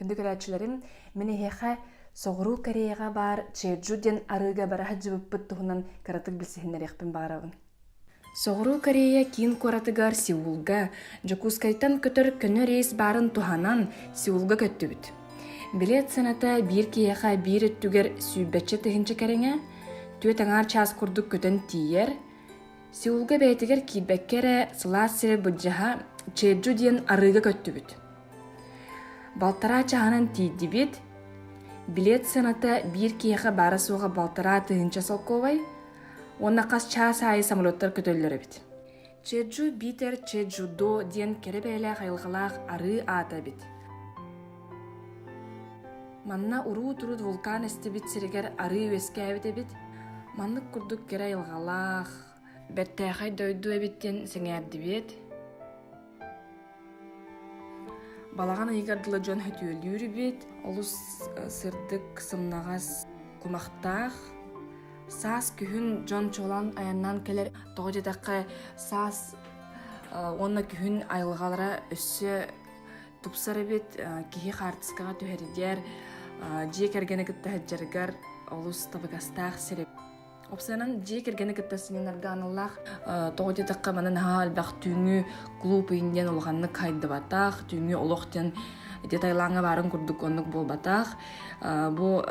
Күндү көрөөччүлэрим, мин эһиэхэ Соҕуруу Кореяҕа баар Чеджу диэн арыыга бара сылдьыбыппыт туһунан кыратык билсиһиннэриэхпин баҕарабын. Соҕуруу Корея киин куоратыгар Сеулга Дьокуускайтан көтөр көнө рейс баарын туһанан Сеулга көттүбүт. Билет сыаната биир киһиэхэ биир өттүгэр сүүрбэччэ тыһыынча кэриҥэ, түөрт аҥаар чаас курдук көтөн тиийэр. Сеулга бэйэтигэр киирбэккэ эрэ сылаас сирэ былдьаһа Чеджу диэн арыыга көттүбүт. балтараа чаһынан тиийдибит билет сыаната биир киһиэхэ баара-суоҕа балтараа тыһыынча солкуобай уонна хас чаас аайы самолеттар көтөллөр эбит чеджу битер чеджу до диэн кэрэ бэйэлээх айылҕалаах арыы аата эбит манна урут-урут вулкан эстибит сиригэр арыы үөскээбит эбит маннык курдук кэрэ айылҕалаах бэртээхэй дойду эбит диэн сэҥээрдибиэт Балаҕан ыйыгар дылы дьон хөтүөлүүр эбит. Олус э, сырдык, сымнаҕас, кумахтаах. Саас күһүн дьон чолан айаннаан кэлэр. Тоҕо диэтэххэ, саас э, уонна күһүн айылҕалара өссө тупсар эбит. Э, киһи хаартыскаҕа түһэрдиэр, дьиэ кэргэни кытта сылдьаргар олус табыгастаах сир эбит. Опсыянан дьиэ кэргэни кытта сынньанарга аналлаах тоҕо диэтэххэ маны наһаа элбэх түүҥҥү клуб иин диэн улаханнык хайдыбатах, түүҥҥү олох диэн ити Таилаҥҥа баарын курдук оннук буолбатах. Бу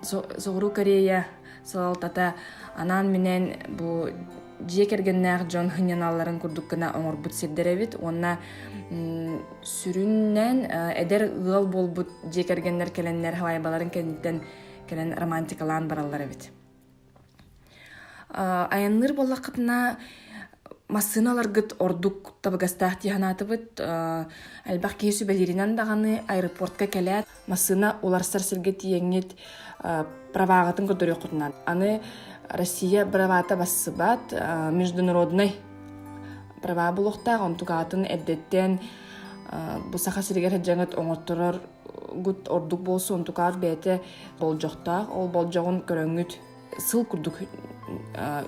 Соҕуруу Корея салалтата анаан-минээн бу дьиэ кэргэннээх дьон сынньаналларын курдук гына оҥорбут сирдэр эбит уонна сүрүннээн эдэр ыал буолбут дьиэ кэргэннэр кэлэннэр халайбаларын кэнниттэн кэлэн романтикалаан бараллар эбит айанныыр буоллаххытына массыыналаргыт ордук табыгастаах дии санаатыбыт элбэх киһи сүбэлииринэн даҕаны аэропортка кэлээт массыына уларсар сиргэ тиийэҥҥит праваҕытын көрдөрүөххүтүнэн аны россия правата бассыбат международнай права буолуохтаах онтугаатын эрдэттэн бу саха сиригэр сыдьаҥыт оҥотторор ордук буолса онтукаар бэйэтэ болдьохтоох ол болдьоҕун көрөҥҥүт сыл курдук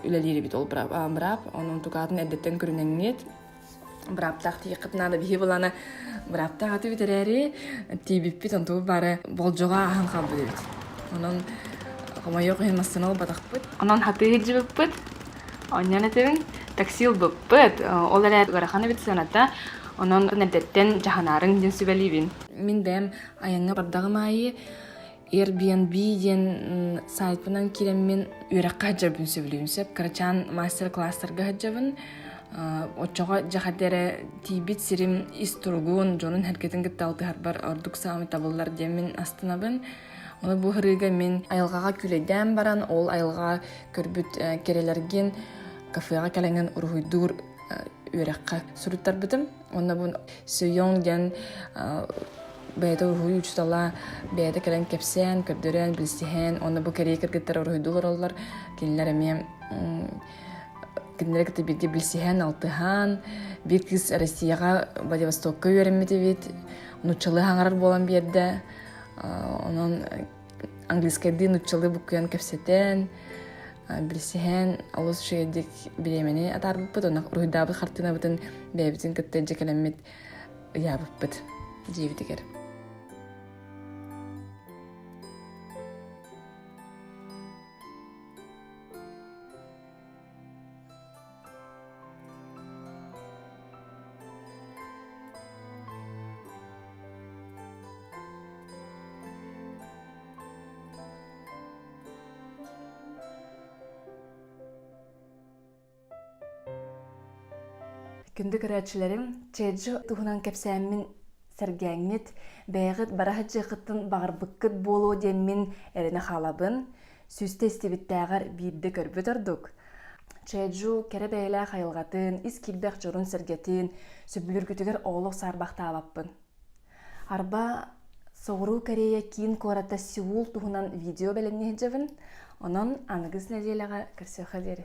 үлэлиир эбит ол быраап онон тукаатын эрдэттэн көрүнэҥҥит бырааптаах тиийэххит наада биһи былана бырааптаах аты бүтэрээри тиийбиппит онтубут бары болдьоҕо аһан хаалбыт эбит онон хомойуох иһин массана ылбатахпыт онон хатыы илдьибиппит онньон этибин такси ылбыппыт ол эрээт ыарахан эбит сыаната Онон эрдэттэн дьаһанаарыҥ диэн сүбэлиибин. Мин бэйэм айаҥҥа бардаҕым аайы Airbnb диэн сайтпынан киирэммин үөрэххэ сылдьарбын сөбүлүүн сөп. Кырачаан мастер-класстарга сылдьабын. Оччоҕо дьахарда эрэ тиийбит сирим ис туругун, дьонун эргэтин кытта алтыһарбар ордук саамай табыллар диэн мин астынабын. Ону бу ырыыга мин айылҕаҕа күлэйдээн баран, ол айылҕаҕа көрбүт кэрэлэргин кафеҕа кэлэҥҥин уруһуйдуур үөрэххэ суруттарбытым уонна бу Сүйоҥ диэн бэйэтэ уруһуй учуутала бэйэтэ кэлэн кэпсээн көрдөрөн билсиһэн уонна бу кэриэ кыргыттар уруһуйдуу олороллор кинилэр эмиэ кинилэри кытта бииргэ билсиһэн алтыһан биир кыыс Россияҕа Владивостокка үөрэммит эбит нууччалыы хаҥарар буолан биэрдэ онон английскайдыы нуччалыы буккуйан кэпсэтэн билсиһэн олус үчүгэйдик бириэмэни атаарбыппыт онно уруһуйдаабыт хартыынабытын бэйэбитин кытта илдьэ кэлэммит ыйаабыппыт дьиэбитигэр Күндү көрөөччүлэрим, чэджи туһунан кэпсээммин сэргээҥҥит, бэйэҕит бара садьыахыттын баҕарбыккыт буолуо диэммин эрэнэ хаалабын. Сүстэ истибиттээҕэр биирдэ көрбүт ордук, Чээдьу кэрэ бэйэлээх айылҕатын, ис киирбэх дьорун-сэргэтин сөбүлүүргүтүгэр олох саарбахтаабаппын. Арба, Соҕуруу Корея киин куората Сеул туһунан видео бэлэмнэһэ илдьэбин, онон аныгыс нэдиэлэҕэ көрсүөххэ диэри.